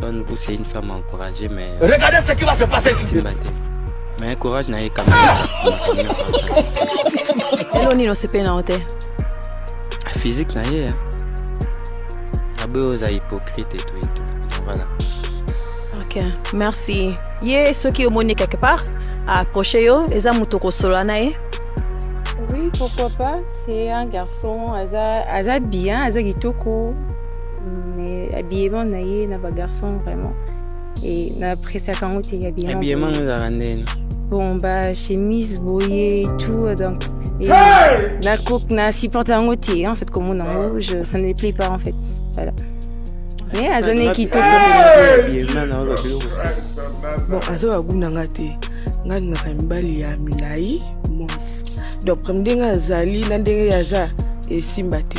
Bonne ou c'est une femme encouragée mais euh, regardez ce qui va se passer ici. Mais courage na ye quand même. Hello Nino c'est pena ote. Ah, physique na ye. Hein. Abe oza hypocrite et tout et tout. Voilà. OK, merci. Ye soki omoni quelque part approcher yo eza moto kosolola na ye. Oui, pourquoi pas? C'est un garçon, aza, aza bien, aza kitoko. mais habillement na ye na ba garçon vraiment e na appréciaka yango te habillement yango ezalaka ndeni bon ba chemise boye tout donc et na coke na supporte yango te en fait komona yango je ça ne me plaît pas en fait voilà mais aza ne kitoko bon aza bagu na nga te nga lingaka mibali ya milai mons donc ndenge azali na ndenge aza esimba te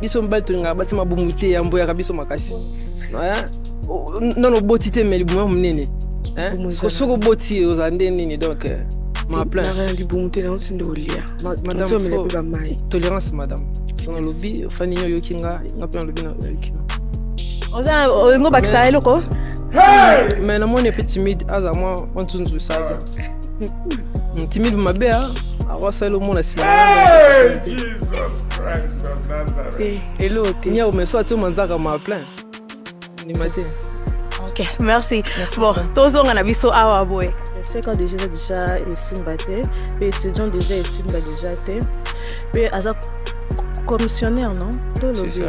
biso mibali tolingaka basi mabumu te yamboyaka biso makasi nano oboti te me libumu ya monene soki oboti ozala nde nini donc euh, maplan libumu te nango tinde olia madameomela mpe bamai tolérance madame so nalobi ofani nini oyoki nga nga mpe nalobi nayoki oza olingo bakisa eloko mais namoni mpe timide aza mwa nzunzu esali timide mabe a awasala omona nsima elo te nyao meso atio manzaka ma plein ndima te ok merci bon tozonga na biso awa boye seka deja eza deja esimba te mpe étudiant deja esimba deja te mpe aza commissionnaire non tolobi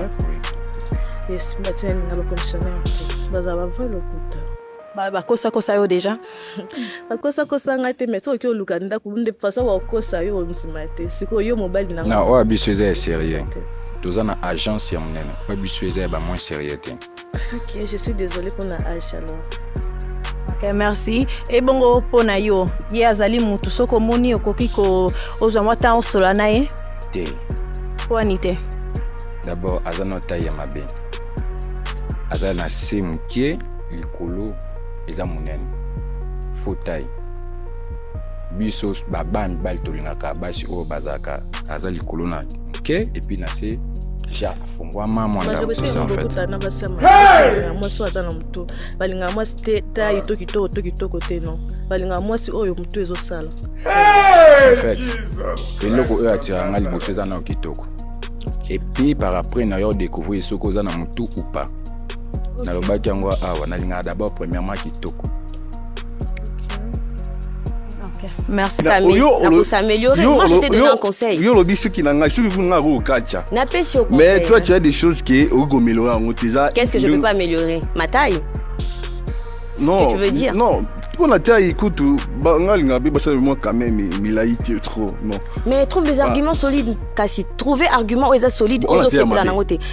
esimba te na bacommissionnaire te bazala bavrai lokuta Ba ba kosa kosa yo déjà. ba kosa kosa nga te mais toi ki oluka ndaku de façon wa kosa yo nsima te. Siko yo mobali na nga. Na oya biso eza sérieux. Toza na agence ya munene. Oya biso eza ba moins sérieux te. OK, je suis désolée pour na age alors. Okay, merci ebongo mpo na yo ye azali motu soki omoni okoki kozwa mwa ntango osola na ye te wani te dabord aza na tai ya mabe aza na se moke likolo eza monene faux taille biso babaa mibali tolingaka basi oyo bazalaka aza likolo na moke epuis na se ja afungwama mwandamosusu en fait na basi ya mwasi oyo aza na motu balingaka mwasi te taille to kitoko to kitoko te non balingaka mwasi oyo motu ezosala en fait eloko oyo atiraka nga liboso eza na kitoko epuis par après na yo découvrir soki oza na motu ou pas nalobaki yango awa nalingaka d'abord premièrement kitoko Merci Samy. Nako s'améliorer. Moi je t'ai donné un conseil. Yo lobi suki na ngai, suki na ko kacha. Na pesi au conseil. Mais toi tu as des choses qui au go améliorer en utiliser. Qu'est-ce que je peux pas améliorer Ma taille Non. Ce que tu veux dire Non, pour la taille écoute bangal ngabe basa moi quand même milai tu trop non mais trouve des ah. arguments solides kasi trouver argument oza solide ozo sepela nango te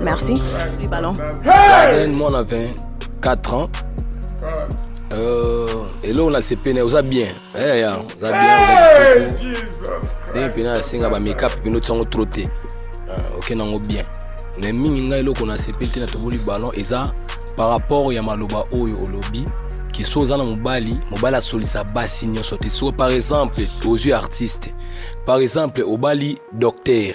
Merci. Du ballon. Hey! Moi, on a 24 ans. Euh, et là, on a ses peines, on a bien. Eh, yeah, on a bien. Hey, Jesus Dès que on a singa ba make-up, puis nous sommes trop tôt. Euh, ok, on a bien. Mais mingi nga eloko na sepeli te na toboli ballon eza par rapport ya maloba oyo olobi ke so oza na mobali mobali asolisa basi nyonso te so par exemple ozwi artiste par exemple obali docteur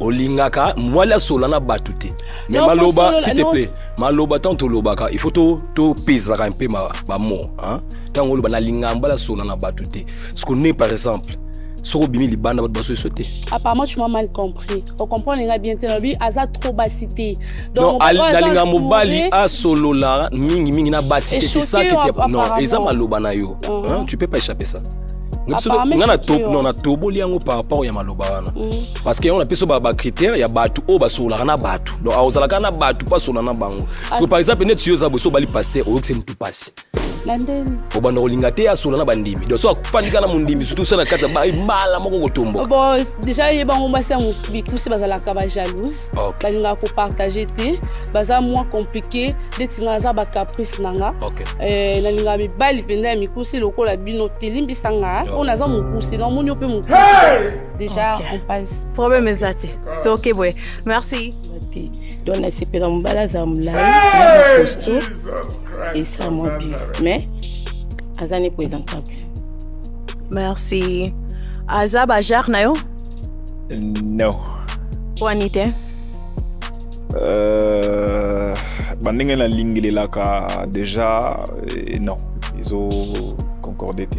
olingaka mwali asola na bato te me Non, maloba kosolola, s'il te non. plaît maloba ntango tolobaka il faut to- topezaka mpe ma- bamo hein. ntango oloba nalingaka mbala asola na bato te siko ne par exemple soki obimi libanda bato basoso te apparemment tu m'as mal compris ocomprendre nga bien te nalobi aza trop basi te non mobali oyo al- aza nalinga mobali entouré- asolola mingimingi na basi te c'est ça Echoqué, qui te- non apparemment. eza maloba na yo Mhm. hein, tu peux pas échapper ça Nga biso- Apparemment, nga na echoqué, to- non, ouais. natoboli yango par rapport ya maloba wana Mm. parce que yango na biso ba critère ya bato oyo basololaka na bato donc aozalaka na bato mpo asola na bango parce que par exemple neti yo oza boso obali paster oyokisi motu mpasi obanda kolinga te asola na bandimi donc so afandika na mondimi surtout sa na kati ya baibala moko kotomboka bon déjà ye bango basi ya mikusi bazalaka bajalouse balingaka kopartage te baza mwa compliqué ndeti nga naza bacaprice na nga eh, nalingaka mibali mpenza ya mikusi lokola bino te limbisa nga oyo naza mokusi na omoni yo mpe mokusi Déjà, okay. on passe. Problème eza te. Toke boye. Merci. Donc na sepela mobala za mulayi na costaud et ça moi bien. Mais aza ne présentable. Merci. Aza ba genre na yo? Non. Wani te? Euh, ba ndenge na lingi lelaka déjà eh, non. Ils ont concordé te.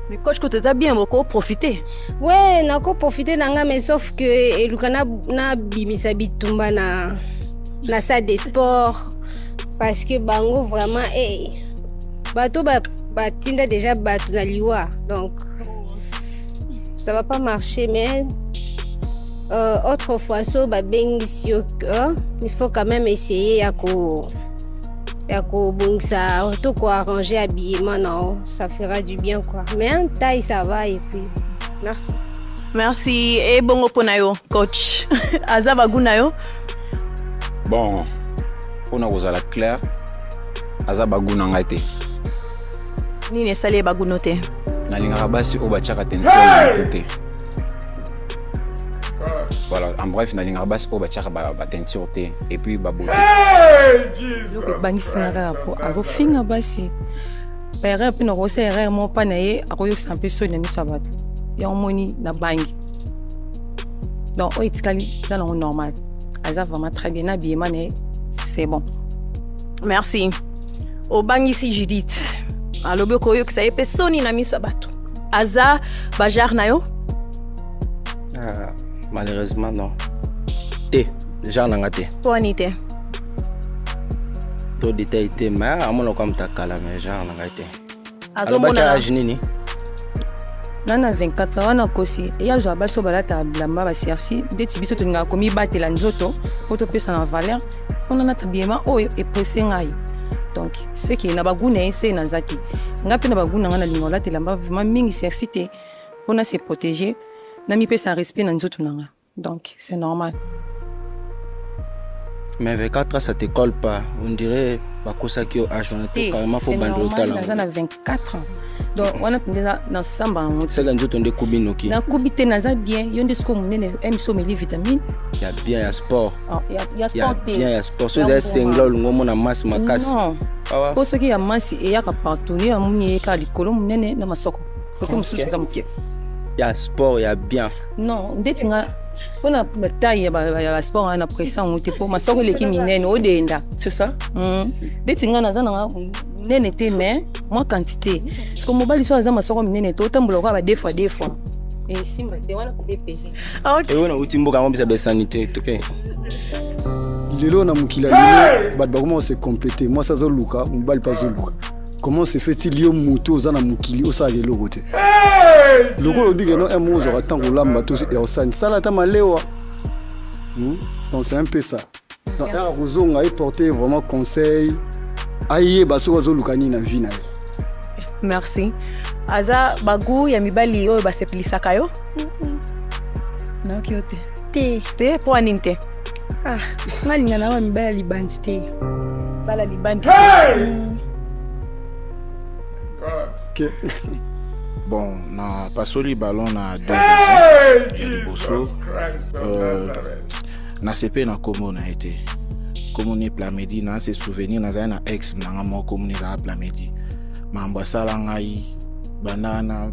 Mais coach kote eza bien boko profiter. Ouais, nako profiter na nga mais sauf que eluka na na bimisa bitumba na na salle de sport parce que bango vraiment eh bato ba batinda déjà bato na liwa donc ça va pas marcher mais euh, autrefois so babengisi yo euh, il faut quand même essayer ya ko ya kobongisa to koarrange habillement na yo ça fera du bien quoi mais un taille ça va et puis merci merci ebongo mpo na yo coach aza bagu na yo bon mpo na kozala claire aza bagu na ngai te nini esali ye baguno te nalingaka basi oyo batiaka te ntina na moto te voilà en bref nalingaka basi oyo batiaka bateinture te et puis babote eloko ebangisi nga kaka po azofinga basi baerreur mpe nakokosa erreur moko mpa na ye akoyokisa mpe soni na miso ya bato yango omoni na bangi donc oyo etikali eza nango normal aza vraiment très bien na biyema na ye c'est bon merci obangisi judith alobi okoyokisa ye mpe soni na miso ya bato aza bajare na yo Ah, malheureusement non. Te, genre nanga te. Poni te. To détail te, mais amona comme ta kala mais genre nanga te. Azomona âge nini? nga na 24 wana nakosi eya azwa basi oyo balataka bilamba baserci ndeti biso tolingaka komibatela nzoto mpo topesa na valeur mpona nata bilema oyo eprese ngai donc seke na bagu na ye se naza te nga mpe na bagu na ngai nalinga olatela mba vraimen mingi serci te mpo na se protéger namipesa respect na nzoto na nga donc c'est normal mais 24 ans ça te colle pas on dirait bakosaki yo age wana te carrément fo banda otala naza na 24 ans donc wana mpenza nasamba yango seka nzoto nde kubi noki nakubi te naza bien yo nde sikoyo monene emiso omeli vitamine ya bien ya sport ah, ya sport te bien ya sport so ezali sengla olingi omona masse makasi mpo ah soki ya masse eyaka partout yo yamoni eyeka likolo monene na masoko kote mosusu eza moke ya sport ya bien non ndeti nga mpona bataille ya basport wana na pression yango te mpo masoko eleki minene odenda c'est ça hmm. ndeti nga naza nanga minene te mais mwa quantité parceke mobali so aza masoko minene te otambola okoya ba deux fois deux fois esimba te wana kodepese eyo nauti mboka yango bisa besanité toke lelo na mokili ya lelo bato bakoma kose complete mwasi azoluka mobali mpe azoluka comment se fait-il yo mutu oza na mokili osalaka eloko te lokola olobi keno un mot ozwaka ntango olamba to ersani sala ata malewa hmm? donc c'est un peu ça donc aka kozonga eporte vraiment conseil ayeba soki azoluka nini na vie na ye merci aza bagu ya mibali oyo basepelisaka yo nayoki yo te te te mpo anini te Ah, nga linga na ba mibala libandi te. Bala libandi. Hey! Mm. Okay. bon na pasoli ballon na deux hey, ya liboso euh, na sepe na komo na ye te komo ni plamedi na se souvenir nazali na ex na nga moko komo ni ezala plamedi mambo asala ngai banda na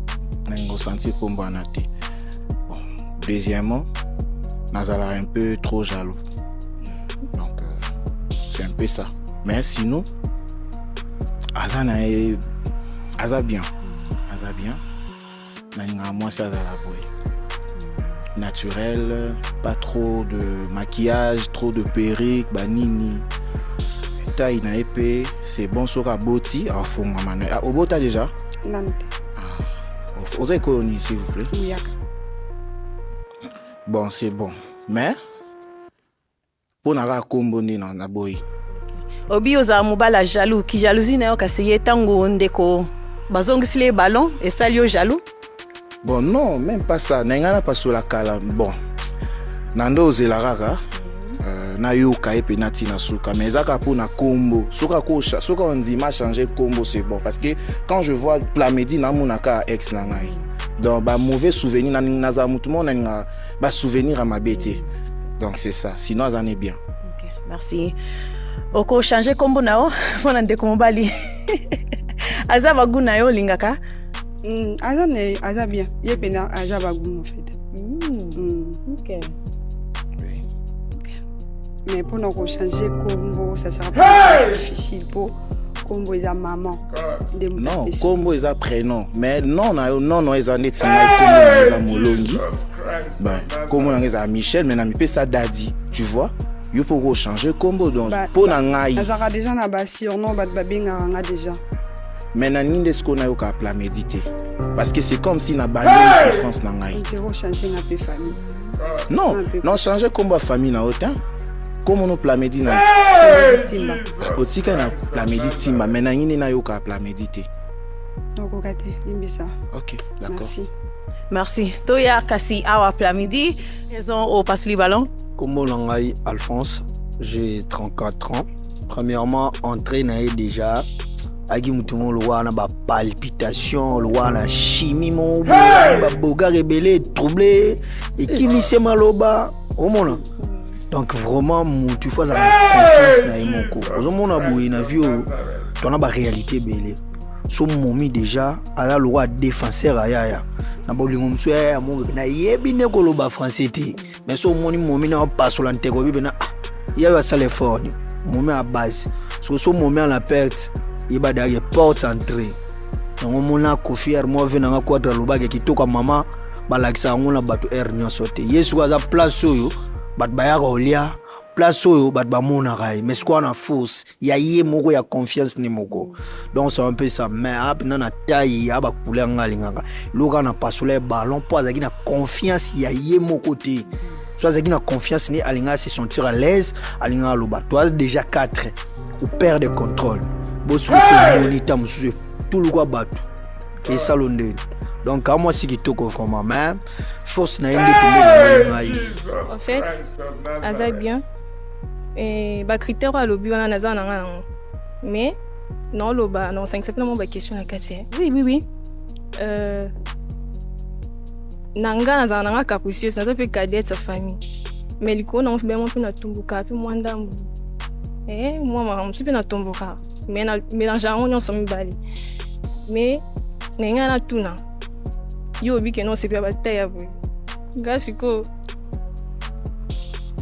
nango sentir kombwana te Deuxièmement, nazala un peu trop jaloux. Donc, euh, c'est un peu ça. Mais sinon, aza na ye aza bien aza bien nalingaka mwasi azala boye naturel pas trop de maquillage trop de perruque banini taille na ye mpe c'est bon soki aboti afongama na ye Ah, obota déjà nanu te ah, oza ekolo nini s'il vous plaît muyaka bon c'est bon mais mpo na kaka nkombo nde na boyi obi ozala mobali ya jaloux ki jalousie na yo kasi ye ntango ndeko bazongisili ye ballon esali yo jaloux bon non même pas ça na ngai napasola kala bon na nde ozela kaka euh, nayoka ye mpe nati na suka mais ezaka mpo na nkombo soki ondima change nkombo c'est bon parce que quand je vois plamedi namonaka ex na ngai donc ba mauvais souvenir na naza mutu moko nalinga ba souvenir ya mabe te donc c'est ça sinon aza ne bien okay, merci okochange nkombo na yo mpo na ndeko mobali aza bagu na yo olingaka mm, aza na ye aza bien ye mpena aza bagu na fete mm. mm. okay. mais mpo na kochange nkombo ça sera difficile mpo kombo eza maman nde non kombo eza prénom mais non na yo non non eza neti ngai kombo na eza molongi ben kombo na ngai eza michel mais na mipesa dadi tu vois yo mpo okochange kombo donc mpo na ngai azalaka déjà na basurnom bato babengaka nga déjà mais na nini nde sikoyo nayoka plamedi te parce que c'est comme si na bandi souffrance na ngai non non change kombo ya famille na yo te kombo no plamedi na otika na plamedi timba me nangi nde nayoka plamedi te okoka te limbisa ok d'accord merci merci toya kasi awa plamidi ezo opasuli ballon kombo na ngai alphonse j'ai 34 ans premièrement entrée na ye déjà ayaki motu moko lokola na bapalpitation lokola na chimie moko babogare ebele etrouble ekimisema loba omona donc vraiment mutu ifo azala na confiance na ye moko ozomona boye na vie oyo tona baréalité ebele so momi déjà aza lokola défenseur ayaya na bolingo mosusu yaya ya momi mpena yebi nde koloba français te mais so omoni momi na opasola nteko oyebi mpena ah yayo asala effort ni momi ya base soki so momi ana perte yeba dake porte entrée yango mona kofi armoive nanga quadre alobaki kitoko mama balakisa yango na bato heure nyonso te ye sikoyo aza place oyo bato bayaka kolia place oyo bato bamonaka ye mais sikoyo na force ya ye moko ya confiance ne moko donc c'est un peu ça mais aa mpenza na tai ya bakule yanga alingaka eloka na pasola ya ballon mpo azalaki na confiance ya ye moko te so azalaki na confiance ne alingaka se sentir à l'aise alingaka aloba to aza déjà 4 ou père de contrôle bosukusu omoni ta mosusu etulukwa bato esalo nde donc ka mwasi kitoko vraiment mais force na ye nde pembeni ngai en fait aza bien eh, bacritère oyo alobi wana naza na ngai yango mais naoloba naosangisa mpe na mwa baquestion na kati eh. oui oui oui euh, na ngai nazala na ngai capricieuse naza mpe cadette ya famille mais likolo nango mpe bemo mpe natumbuka mpe mwa ndambu eh, mwa makambo mosusu mpe natomboka mais na mélange yango nyonso mibale mais na ngai natuna yo obi kende osepela bataille ya boye ngai sikoyo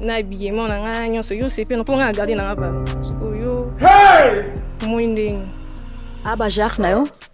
na habillement na ngai nyonso yo osepela mpo ngai na garde na ngai balo sikoyo omoni ndenge abajare na yo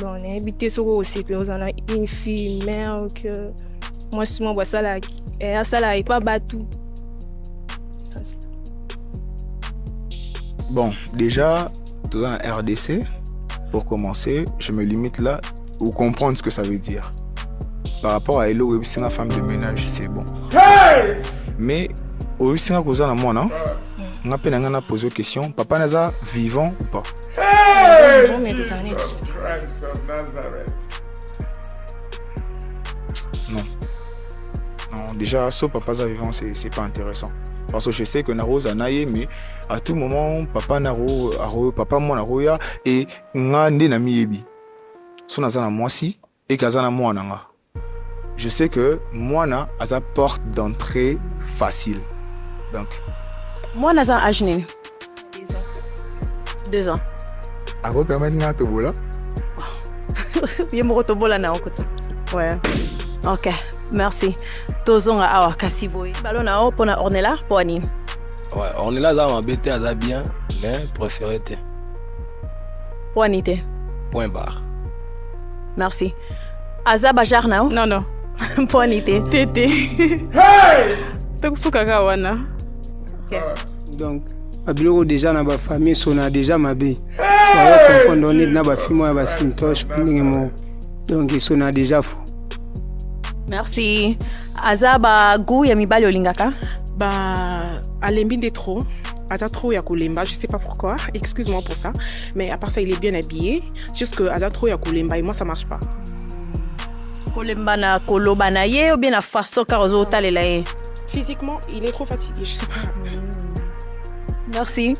bon nayebi te soki okosepela oza na une fille mère que mwasi moko asalaka eh, asalaka epa bato bon déjà toza na rdc pour commencer je me limite là ou comprendre ce que ça veut dire par rapport à eloko oyebisi nga femme de ménage c'est bon hey! mais oyebisi nga koza na mwana nga mpe na nga na pose question papa naza vivant ou pas Hey, Jesus Christ of Nazareth. Non. Non, déjà, ce papa est vivant, c'est pas intéressant. Parce que je sais que Naro Zanaye, mais à tout moment, papa Naro, Aro, papa moi Naro ya, et nga nde na miyebi. Son azana moi si, et kazana moi nanga. Je sais que mwana aza porte d'entrée facile. Donc. Mwana aza âge nini? Deux ans. Deux ans. Ako permettre nga tobola? Ye moko tobola na okuta. Ouais. Ok, merci. Tozonga awa kasi boye. Balo na o pona Ornella po ani. Ouais, Ornella aza mabe te, aza bien, mais préféré te. Po ani te. Point barre. Merci. aza bajar na yo non non mponi te te te tokosuka kaka wana donc babiloko deja na bafamille sona deja mabe bayo confondre yo neti na bafilme ya basintoche bandenge moko donc esona deja fo merci aza bagout ya mibali olingaka ba alembi nde trop aza trop ya kolemba je sais pas pourquoi excuse moi pour ça mais à part ça il est bien habillé Jusque aza trop ya kolemba et moi ça marche pas. Kolemba na koloba na ye ou bien na façon car ozo talela ye. Physiquement, il est trop fatigué, je sais pas. Merci.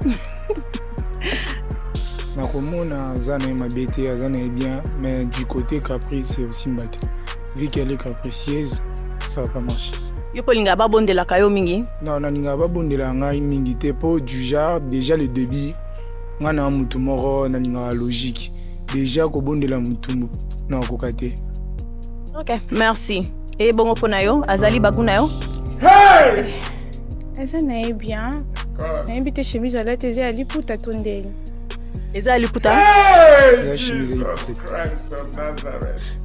nakomona aza na ye mabe te aza na ye bien mais du côté caprice esimba te vu qu'elle est capricieuse ça va pas marcher yo mpe olingaka babondelaka yo mingi non nalingaka babondelaka ngai mingi te mpo du genre déjà le début nga na mutu moko nalingaka logique deja kobondela mutumbu na kokoka te ok merci eye bongo mpo na yo azali bagu na yo hey! eza na ye bien nayebi te chemise alati eza ya liputa to ndenge eza ya liputa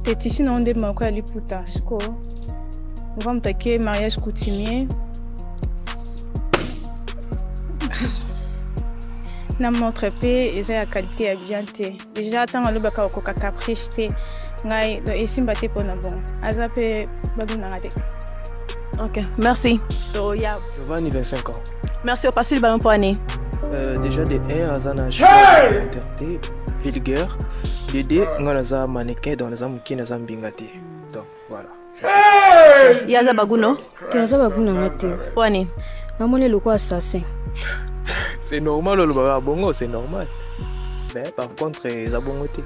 te tisi nango nde moko ya liputa sikoyo ova moto ake mariage coutumier na montre mpe eza ya qualité ya bien te déjà ntango alobaka okoka caprice te ngai donc esimba te mpo na bongo aza mpe babinanga te ok merci toya va anniversaire encore merci opasi libala mpo ane euh, déjà de 1 aza na te vulgaire de 2 ngai naza mannequin donc naza moke naza mbinga te donc Voilà. Hey! Yaza baguno. Yaza baguno ngate. Wani. Namoni lokola assassin. C'est normal olobaka bongo, c'est normal. Mais par contre eza bongo te.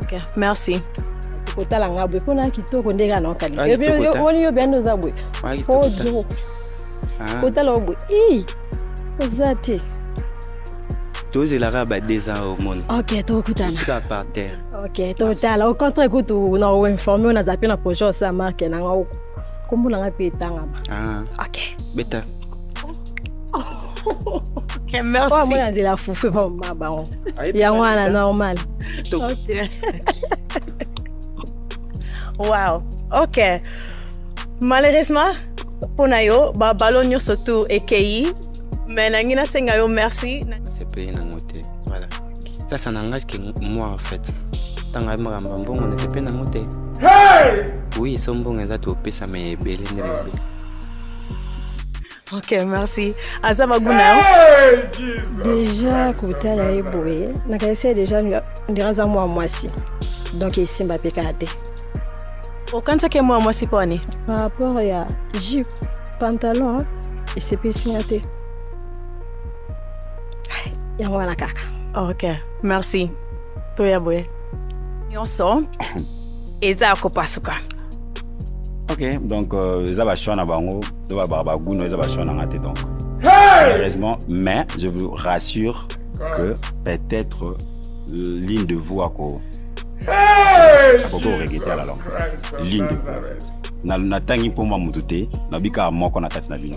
OK, merci. kotala nga boye mpo na kitoko ndenge ana okanisa omoni yo bianda oza boye ojo kotala yo boye i oza te tozelaka ba deux ans au monde ok tokokutana par terre ok totala au contraire kutu na oinforme oyo nazala mpe na projet osa marke na ngai kombo na ngai mpe etangama ah. ok beta Okay, merci. Oh, moi, de la foufou, pas ma baron. Il y a moi, la normale. Ok. wow. Ok. Malheureusement, pour Nayo, ba ballon nyo surtout ekei. Mais nangi na senga yo merci. C'est payé na moté. Voilà. Ça, ça n'engage que moi en fait. Tant que makambo mbongo ne sepe nango te. Oui, so mbongo eza topesama ebele nde mabe. Ok, merci. Aza maguna. Déjà kotala ye boye, nakanisi ye déjà ndira aza mwa mwasi. Donc esimba mpe kaka te. Okanisaki ye mwa mwasi mpo ani? Par rapport ya jupe, pantalon, esepelisi nga te. yango wana kaka ok merci toya boye nyonso eza ya kopasuka ok donc euh, eza bachoix na bango to babaka baguno eza bachoix na nga te donc malheureusement mais je vous rassure que peut-être euh, l'une de vous ako akoki koregrete à la longue l'une de vous en fait. Na- natangi mpoma motu te nabikaka moko na kati na bino